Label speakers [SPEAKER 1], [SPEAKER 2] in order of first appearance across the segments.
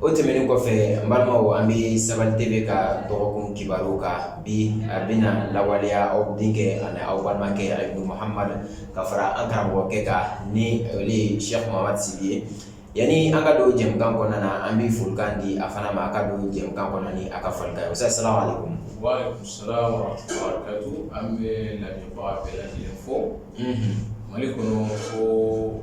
[SPEAKER 1] O tɛmɛnen kɔfɛ n balimaw an bɛ sɛbɛn de bɛ ka dɔgɔkun kibaru ka bi a bɛna lawaleya aw denkɛ ani aw balimakɛ a ye kohamadu ka fara an karamɔgɔkɛ ka ni sɛmasi ye yanani an ka don jɛkan kɔnɔna na an bɛ folikan di a fana ma a ka don jɛkan kɔnɔ a ka fara o sa sira an bɛ fɔ
[SPEAKER 2] mali kɔnɔ ko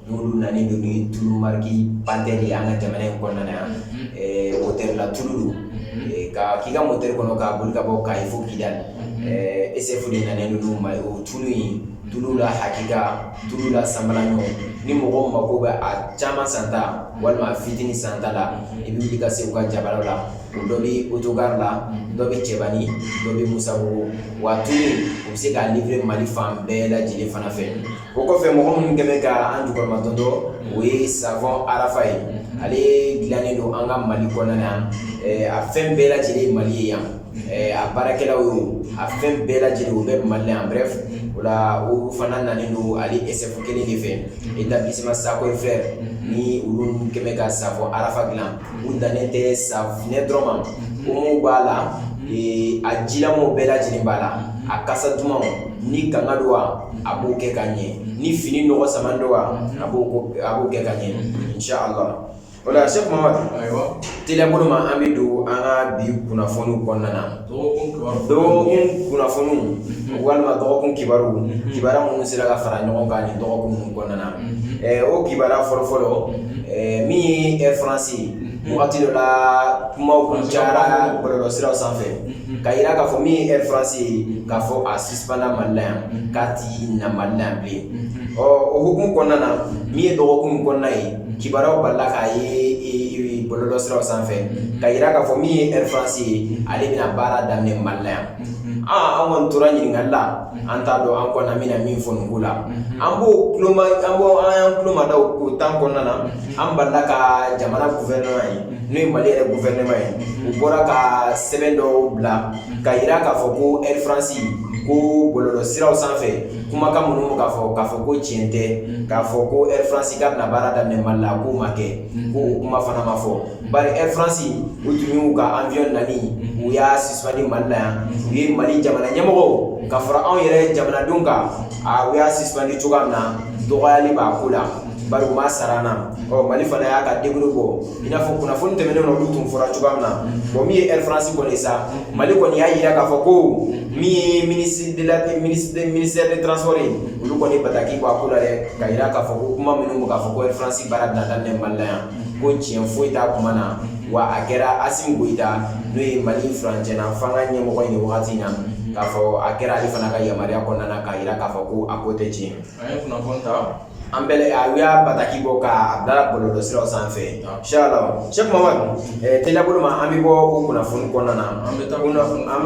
[SPEAKER 1] N'olu nanen don ni tulu mariki Panthère ye an ka jamana in kɔnɔna na yan motɛri la tulu don ka k'i ka motɛri kɔnɔ k'a boli ka bɔ Kayi fo Kidali SF de nanen don n'a ye o tulu in tulu la hakika tulu la sanbalanɲɔ ni mɔgɔw mago bɛ a caman santa walima a fitini santa la i bɛ wuli ka se u ka jabaraw la dɔ bɛ autogare la dɔ bɛ Cɛbani dɔ bɛ Musabugu wa tulu in u bɛ se k'a livrer Mali fan bɛɛ lajɛlen fana fɛ o kɔfɛ mɔgɔ minnu kɛmɛ ka an jukɔrɔma tɔntɔ o ye savon Arafa ye ale dilannen don an ka mali kɔnɔna yan a fɛn bɛɛ lajɛlen ye mali ye yan a baarakɛlaw ye a fɛn bɛɛ lajɛlen u bɛ Mali la yan bref o la olu fana nanen don ale SF kelen de fɛ établissement Sako et Frères ni olu kɛmɛ ka savon Arafa dilan U dannen tɛ safunɛ dɔrɔn ma omo b'a la a jilamanw bɛɛ lajɛlen b'a la a kasa dumanw ni kanga don wa a b'o kɛ ka ɲɛ ni fini nɔgɔ sama don wa a b'o kɛ ka ɲɛ inshallah o la Sheikh Muhamad teliya bolo ma an bɛ don an ka bi kunnafoniw kɔnɔna na dɔgɔkun kunnafoniw walima dɔgɔkun kibaru kibaru minnu sera ka fara ɲɔgɔn kan nin dɔgɔkun ninnu kɔnɔna na o kibaru fɔlɔ fɔlɔ min ye Air France ye wagati dɔ la kumaw kun cayara bɔlɔlɔsiraw sanfɛ ka yira k'a fɔ min ye Air France ye k'a fɔ a suspendra mali la yan k'a ti na mali la yan bilen ɔ o hukumu kɔnɔna na min ye dɔgɔkun kɔnɔna ye kibaruyaw balila k'a ye bɔlɔlɔ siraw sanfɛ ka yira k'a fɔ min ye Air France ye ale bɛna baara daminɛ Mali la yan an kɔni tora ɲininkali la an t'a dɔn an kɔni an bɛna min fɔ nin ko la an b'o an b'o an y'an kuloma da o temps kɔnɔna na an balila ka jamana gouvernement ye n'o ye Mali yɛrɛ gouvernement ye u bɔra ka sɛbɛn dɔw bila ka yira k'a fɔ ko Air France ko bɔlɔlɔ siraw sanfɛ Kumakan minnu bɛ ka fɔ, k'a fɔ ko tiɲɛ tɛ, k'a fɔ ko Air France k'a bɛna baara daminɛ Mali la, k'o ma kɛ, k'o kuma fana ma fɔ, bari Air France u tun y'u ka avion nali u y'a suspendu Mali la yan, u ye Mali jamana ɲɛmɔgɔw ka fara anw yɛrɛ jamanadenw kan, aa u y'a suspendu cogoya min na, dɔgɔyali b'a ko la. bari u ma sara an na ɔ mali fana y'a ka décret bɔ i n'a fɔ kunnafoni tɛmɛnen na olu tun fɔra cogoya min na bɔn min ye air france kɔni sa mali kɔni y'a yira k'a fɔ ko min ye ministre de la ministère de transport ye olu kɔni bataki bɔ a ko la dɛ ka yira k'a fɔ ko kuma minnu bɛ k'a fɔ ko air france baara bɛna daminɛ mali la yan ko tiɲɛ foyi t'a kuma na wa a kɛra asimi goyita n'o ye mali furancɛna fanga ɲɛmɔgɔ ye wagati in na k'a fɔ a kɛra ale fana ka yamaruya kɔnɔna na k'a yira k'a fɔ ko a ko tɛ tiɲɛ an ye kunnafoni ta
[SPEAKER 2] an bɛ a
[SPEAKER 1] y'a bataki bɔ k'a bila bɔlɔlɔ siraw sanfɛ inshallah sɛki mamadu teliya bolo ma an bɛ bɔ o kunnafoni kɔnɔna na an bɛ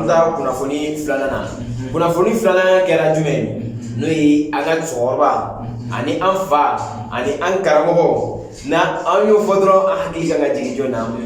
[SPEAKER 1] taa kunnafoni filanan na kunnafoni filanan kɛra jumɛn ye n'o ye an ka cɛkɔrɔba ani an fa ani an karamɔgɔ n'an y'o fɔ dɔrɔn an hakili kan ka jigin jɔn na an bɛ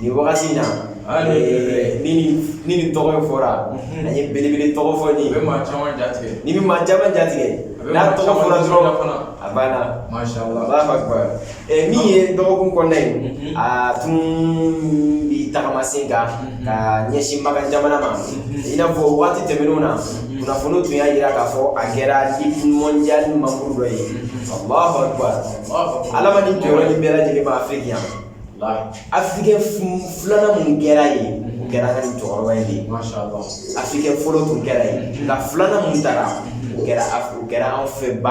[SPEAKER 1] nin wagati in na ni nin tɔgɔ in fɔra an ye belebele tɔgɔ fɔ nin bɛ maa caman jatigɛ
[SPEAKER 2] ni bɛ maa caman jatigɛ
[SPEAKER 1] n'a tɔgɔ fɔra dɔrɔn fana a banna min ye dɔgɔkun kɔnɔna ye a tun bi tagama sen kan ka ɲɛsin makan jamana ma i n'a fɔ waati tɛmɛnenw na kunnafoni tun y'a jira k'a fɔ a kɛra liki mɔndiyali manburu dɔ ye alahu akibaru Ala ma ni jɔyɔrɔ ni bɛɛ lajɛlen ma afiriki yan afirikɛn filanan min kɛra ye o kɛra ka nin cɛkɔrɔba ye afirikɛn fɔlɔ tun kɛra ye nka filanan min taara o kɛra o kɛra an fɛ ba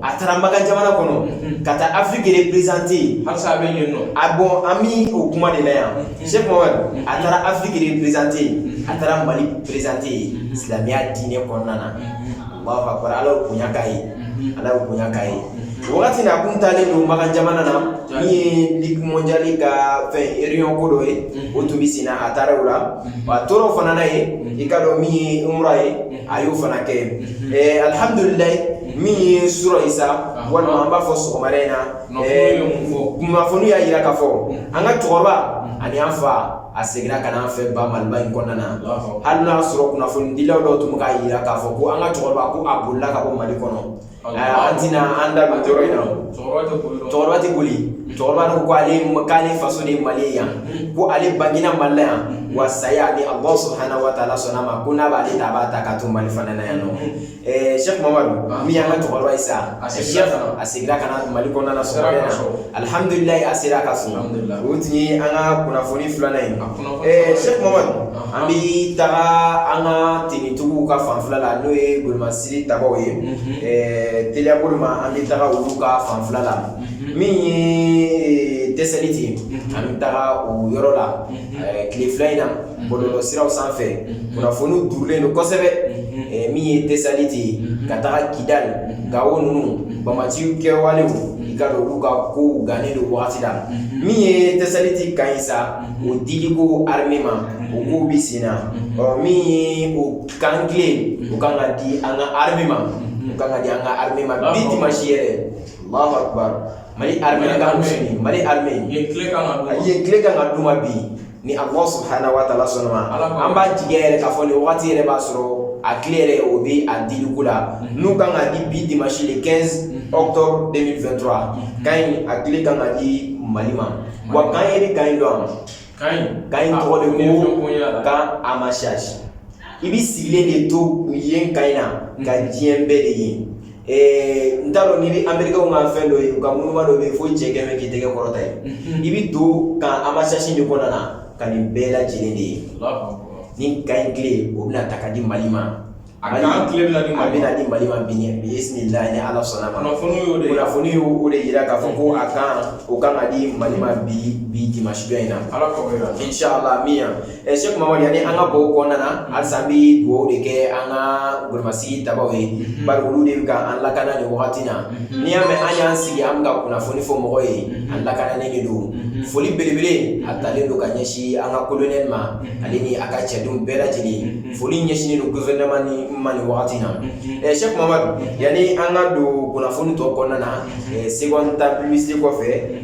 [SPEAKER 1] a taara makan jamana kɔnɔ ka taa afiriki reprezante yen a bɔ an bɛ o kuma de la yan sɛki a taara afiriki reprezante yen a taara mali prezante yen silamɛya diinɛ kɔnɔna na alahu akibaru ala ye bonya k'a ye Ala ye bonya k'a ye wagati min a tun taalen don makan jamana na min ye liki mɔndiyali ka fɛn reyiniyɔn ko dɔ ye o tun bɛ senna a taara o la a tora o fana na yen i k'a dɔn min ye umura ye a y'o fana kɛ yen alihamudulilayi min ye surɔ ye sa walima an b'a fɔ sɔgɔmada in na kunnafoni y'a jira k'a fɔ an ka cɛkɔrɔba ani an fa A seginna ka na an fɛ ba maliba in kɔnɔna na hali n'a sɔrɔ kunnafonidila dɔw tun bɛ k'a jira k'a fɔ ko an ka cɛkɔrɔba ko a bolila ka bɔ mali kɔnɔ an tɛna an da don yɔrɔ in na cɛkɔrɔba tɛ boli cɛkɔrɔba ko k'ale faso de ye mali ye yan ko ale bangena mali la yan wa saya ni alahu subhanahu wa taala sɔnna a ma ko n'a b'ale ta a b'a ta ka to mali fana na yan nɔ Sɛki mamadu min y'an ka cɛkɔrɔba ye sa a a segira ka na mali kɔnɔna alihamudulilayi a sera a ka so o tun ye an ka kunnafoni filanan ye sɛki mamadu an bɛ taga an ka tenitigiw ka fanfɛla la n'o ye golomasiri tabaw ye teliya bolo ma an bɛ taga olu ka fanfɛla la min ye tesaliti an bɛ taga o yɔrɔ la tile fila in na bɔlɔlɔ siraw sanfɛ kunnafoni durulen don kosɛbɛ min ye tesaliti ye ka taga kidali gawo ninnu bamaciw kɛwalew i k'a dɔn olu ka kow gannen don wagati la min ye tesaliti kan in sa o diliko arime ma o kow bɛ sen na ɔ min ye o kan kile o kan ka di an ka arime ma o kan ka di an ka arime ma bi dimansi yɛrɛ allahu akbar mali arime ka musuni mali arime ye kile kan ka d'u ma bi ni ala subhanahu wa ta'ala sɔnna ma an b'a jigi yɛrɛ k'a fɔ nin waati yɛrɛ b'a sɔrɔ a kile yɛrɛ o bɛ a diliko la n'u kan ka di bi dimansi le quinze octobre deux mille vingt-trois kan in a kile kan ka di mali ma wa kan yɛrɛ kan in dɔn kan in tɔgɔ de ko kan amasasi i bɛ sigilen de to yen kan in na ka diɲɛ bɛɛ de ye Ee n t'a dɔn n'i bɛ amerikɛnw ka fɛn dɔ ye u ka monuman dɔ bɛ yen fo cɛ kɛmɛ k'i tɛgɛ kɔrɔta ye i bɛ to kan amasasi de kɔnɔna na ka nin bɛɛ lajɛlen de ye ni kan in kile o bɛna ta ka di mali ma a bɛna kile bɛna bɛna di mali ma bi bisimilahi ni ala sɔnna ma kunnafoniw y'o de jira k'a fɔ ko a kan o kan ka di mali ma bi dimansi in na ala la min yan Ɛ seki mamadu yani an ka bɔ o kɔnɔna na halisa an bɛ dugawu de kɛ an ka golomasiri tabaw ye bari olu de bɛ ka an lakana nin wagati na n'i y'a mɛn an y'an sigi an bɛ ka kunnafoni fɔ mɔgɔw ye an lakananen de don foli belebele a talen don ka ɲɛsin an ka kolonɛli ma ale ni a ka cɛdenw bɛɛ lajɛlen foli ɲɛsinnen don gofɛrɛnaman in ma nin wagati na ɛ seki mamadu yani an ka don kunnafoni tɔ kɔnɔna na se ta pibilisite kɔfɛ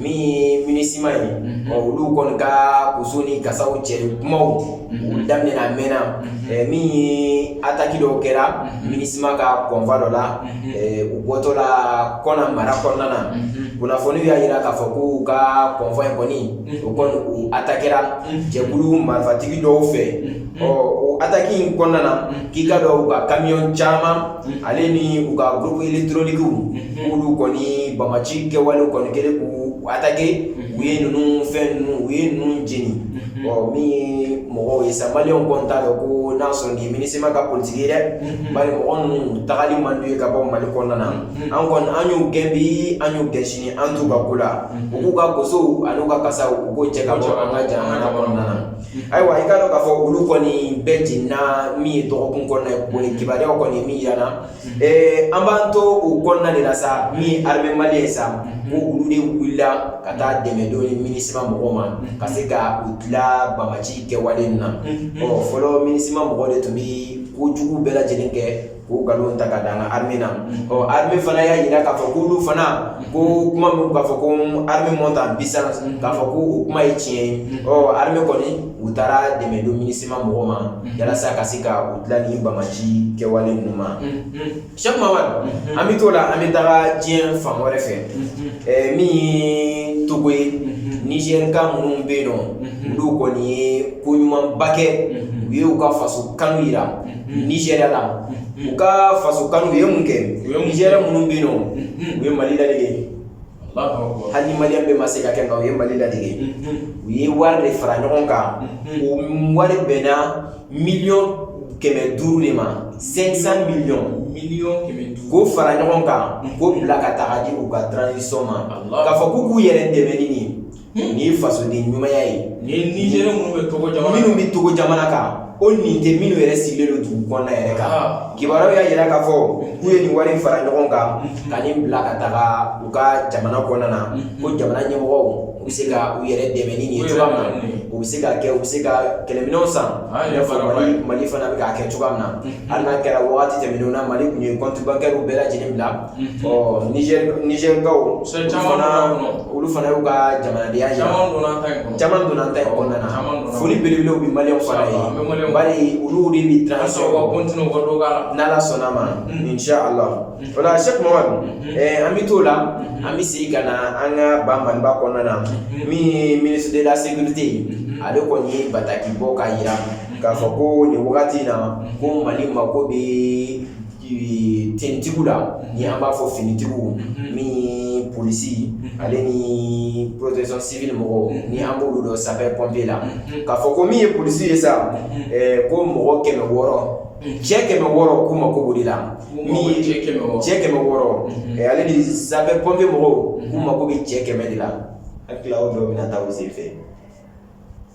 [SPEAKER 1] min ye minisima ye mhm. olu kɔni ka koso ni kasaw cɛ kumaw mhm. u daminɛna a mɛnna mhm. min ye ataki dɔw kɛra minisima ka kɔnfa dɔ la u bɔtɔ la kɔna mara kɔnɔna na kunnafoniw y'a yira k'a fɔ ko u ka kɔnfa in kɔni o kɔni u atakɛra jɛkulu marifatigi dɔw fɛ ɔ o ataki in kɔnɔna na k'i k'a dɔn u ka kamiyɔn caman ale ni u ka gurupu elɛkitɔrɔniki olu kɔni bamaci kɛwale kɔni kɛlen k'u atake u ye ninnu fɛn ninnu u ye ninnu jeni ɔ min mɔgɔw ye sa maliyɛnw kɔni t'a dɔn ko n'a sɔrɔ nin ye minisima ka politiki ye dɛ bari mɔgɔ ninnu tagali man d'u ye ka bɔ mali kɔnɔna na an kɔni an y'u gɛn bi an y'u gɛn sini an t'u ka ko la u k'u ka kosow ani u ka kasaw u k'o cɛ ka bɔ an ka jamana kɔnɔna na Ayiwa i k'a dɔn k'a fɔ olu kɔni bɛɛ jenina min ye dɔgɔkun kɔnɔ boli kibaruya kɔni min yirana an b'an to u kɔnɔna de la sa min ye arime maliyɛn sa ko olu de wulila ka taa dɛmɛ don minisima mɔgɔw ma ka se ka u tila bamaci kɛwale in na ɔ fɔlɔ minisima mɔgɔw de tun bɛ kojugu bɛɛ lajɛlen kɛ k'o nkalon ta ka da an ka armée na, ɔ armée fana y'a jira k'a fɔ k'olu fana ko kuma min bɛ ka fɔ ko armée monte en puissance k'a fɔ ko o kuma ye tiɲɛ ye, ɔ armée kɔni u taara dɛmɛ don Minusima mɔgɔw ma walasa ka se ka u tila nin banbaanci kɛwale ninnu ma, Sɛki Mamadu, an bɛ t'o la an bɛ taga diɲɛ fan wɛrɛ fɛ, ɛ min ye Togo ye, Nizɛrika minnu bɛ yen nɔ, olu kɔni ye ko ɲumanba kɛ, u ye u ka faso kanu jira Nizeriya la u ka faso kanu u ye mun kɛ Nizɛriyɛn minnu bɛ yen nɔ u ye Mali ladege hali ni Maliyɛn bɛɛ ma se k'a kɛ nka u ye Mali ladege u ye wari de fara ɲɔgɔn kan o wari bɛnna miliyɔn kɛmɛ duuru de ma 500 miliyɔn k'o fara ɲɔgɔn kan k'o bila ka taga di u ka transition ma k'a fɔ k'u k'u yɛrɛ dɛmɛ ni nin ye Nin ye fasoden ɲumanya ye ni Nizɛriyɛn
[SPEAKER 2] minnu
[SPEAKER 1] bɛ Togo jamana kan o nin tɛ minnu yɛrɛ sigilen don dugu kɔnɔna yɛrɛ kan kibaruya y'a jira k'a fɔ k'u ye nin wari in fara ɲɔgɔn kan ka nin bila ka taga u ka jamana kɔnɔna na ko jamana ɲɛmɔgɔw u bɛ se ka u yɛrɛ dɛmɛ ni nin ye cogoya min na u bɛ se ka kɛ u bɛ se ka kɛlɛminɛnw san Mali fana bɛ k'a kɛ cogoya min na hali n'a kɛra waati tɛmɛnenw na Mali tun ye kɔntibankɛriw bɛɛ lajɛlen bila Nizɛrikaw olu fana y'u ka jamanadenya jira caman donna an ta in kɔnɔna na foli belebelew bɛ maliyɛnw fana ye bari olu de bɛ n'Ala sɔnn'a ma inshallah o la Sɛki Mamadu an bɛ t'o la an bɛ segin ka na an ka ba Maliba kɔnɔna na min ye ministre de la sécurité ye ale kɔni ye bataki bɔ k'a jira k'a fɔ ko nin wagati in na ko Mali mako bɛ tenitigiw la ni an b'a fɔ finitigiw min ye polisi ale ni protection civile mɔgɔw ni an b'olu dɔn sapeur pompier la k'a fɔ ko min ye polisi ye sa ko mɔgɔ kɛmɛ wɔɔrɔ cɛ kɛmɛ wɔɔrɔ k'u mako b'o de la cɛ kɛmɛ wɔɔrɔ ale ni sapeur pompier mɔgɔw k'u mako bɛ cɛ kɛmɛ de la a tila dɔ bɛ taa u sen fɛ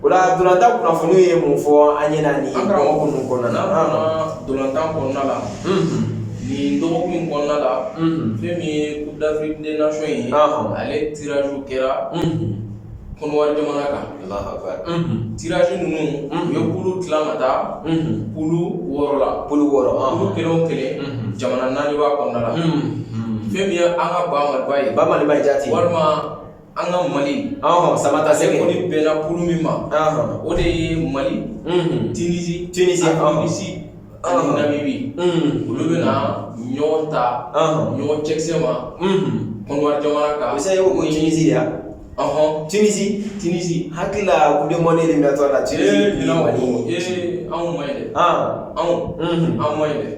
[SPEAKER 1] O la ntolatan kunnafoni ye mun fɔ an ɲɛna nin dɔgɔkun ninnu kɔnɔna na? An karamɔgɔ, an ka ntolatan kɔnɔna
[SPEAKER 2] la, nin dɔgɔkun in kɔnɔna la, fɛn min ye coupe d'Afrique des nations ye, ale tirage kɛra Kɔnɔwari jamana kan, Alahu akbar, tirage ninnu u ye kulu tila ka taa kulu wɔɔrɔ la, kulu wɔɔrɔ, kulu kelen
[SPEAKER 1] o kelen
[SPEAKER 2] jamana naani b'a kɔnɔna la, fɛn min ye an ka ba Maliba ye, ba Maliba jati, walima
[SPEAKER 1] An
[SPEAKER 2] ka mali saba taa se kɔni
[SPEAKER 1] bɛɛla kulu min
[SPEAKER 2] ma o de ye mali tsi tsi anbibiri olu bɛ na ɲɔgɔn ta
[SPEAKER 1] ɲɔgɔn
[SPEAKER 2] cɛkisɛ
[SPEAKER 1] ma
[SPEAKER 2] kɔnɔbase
[SPEAKER 1] ko
[SPEAKER 2] jsi yan ɔɔn tsi
[SPEAKER 1] tsi hakili u bɛ mɔni de natɔ la cɛ anw ma dɛ anw
[SPEAKER 2] anw ma dɛ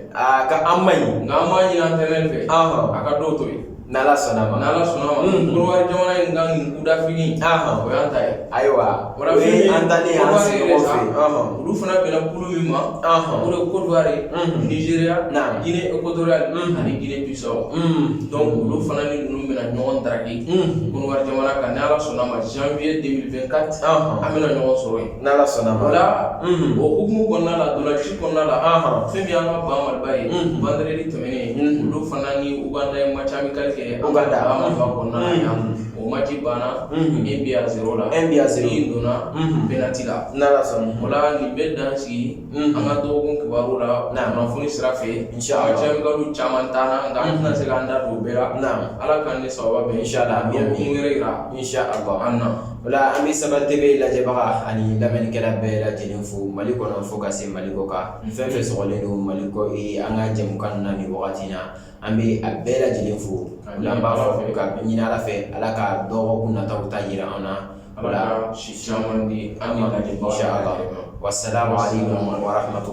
[SPEAKER 2] ka an ma ɲi
[SPEAKER 1] nka an ma ɲin an tɛ
[SPEAKER 2] fɛ a ka dɔw to yen N'ala sɔnna
[SPEAKER 1] ma n'ala sɔnna ma
[SPEAKER 2] Konowari jamana in kan nin coupe d'Afrique o y'an ta ye ayiwa o ye an talen ye an
[SPEAKER 1] sigiɲɔgɔnw fɛ yen olu fana bɛnna kulu
[SPEAKER 2] min ma o de ye Konowari Nizeriya Gine Ekotoriyali ani Gine Bisawo donc olu fana ni ninnu bɛna ɲɔgɔn daraki Konowari jamana kan n'ala sɔnna ma zanwiye 2024 an bɛna ɲɔgɔn sɔrɔ yen n'ala sɔnna ma o la o hukumu kɔnɔna la ntolaci kɔnɔna la fɛn min y'an ka ba Maliba ye olu fana ni Uganda ye match amical kɛ an ka ba Maliba kɔnɔna na yan o match banna un but à zéro la min donna penalty la n'ala sɔnna o la
[SPEAKER 1] nin bɛ dan
[SPEAKER 2] sigi an ka dɔgɔkun kibaru la kunnafoni sira fɛ match amical caman taara nka an tɛna se k'an da don o bɛɛ la ala k'an ni sababu bɛn dɔgɔkun
[SPEAKER 1] wɛrɛ
[SPEAKER 2] yira an na
[SPEAKER 1] o la
[SPEAKER 2] an bɛ Saba
[SPEAKER 1] TV lajɛbaga ani lamɛnnikɛla bɛɛ lajɛlen fo Mali kɔnɔ fo ka se Mali kɔkan Fɛn fɛ slen don mali kɔ an ka jɛ ka na nin wagati na an bɛ a bɛɛ lajɛlen fo an b'a fɔ fɛ ka ɲinin ala fɛ ala ka dɔgɔ nata ta jira an na
[SPEAKER 2] a
[SPEAKER 1] si caman an ka wa sara ma
[SPEAKER 2] warato